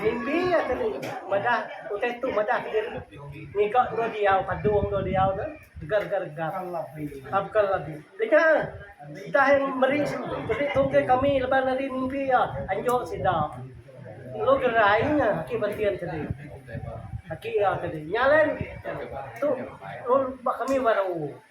Mimpi iya tadi madah utai tu madah kediri ngiga dua diau padung dua diau ne gegar gegar gegar apakah labi deka entah yang meri meri tungke kami laban ari mimpi iya anjo sida lalu gerai nya ake bentian tadi ake iya tadi nya alai tu ba kami baru.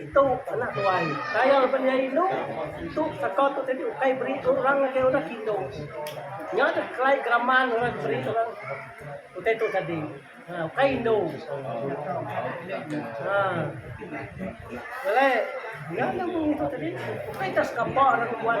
Itu anak tuai. Tayau lebuh nya indu, tu saka tu tadi ukai beri orang ngagai orang ke indu. Nya deh kelai geraman orang ke beri orang utai tu tadi. Ha ukai indu. Ha. Belai nya deh mung ngitu tadi ukai ka sekapa orang nuan.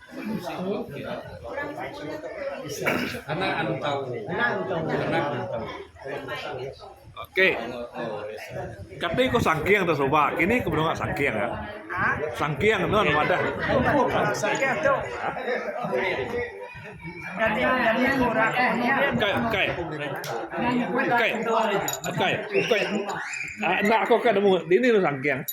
Ok kati ku sangking tu suba kini ku menua sangking ah sangking tu anu madah ukai ukai ukai ukai ukai enda aku ka nemu dini anu sangking.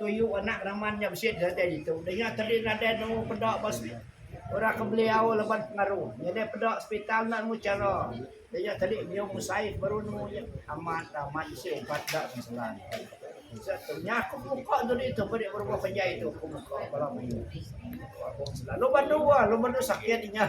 Tuyu anak raman nya bisi datai ditu. Daya tadi nadai nemu peda ba orang ke beliau laban pengaru. Nyadi peda sepital enda nemu chara. Daya tadi nyium usaik baru nemu nya. Amat da amat bisi ubat enda keselan. Unsur tu nya aku muka dudi tu peri berumah panjai tu aku muka bala mayuh. Lalu bandu ah lalu bandu sakit inya.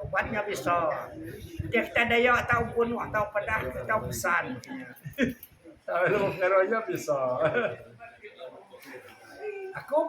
Uban nya bisa enti kitai dayak tau bunuh tau padah tau pesan tau lalu mengaro nya bisa. Aku.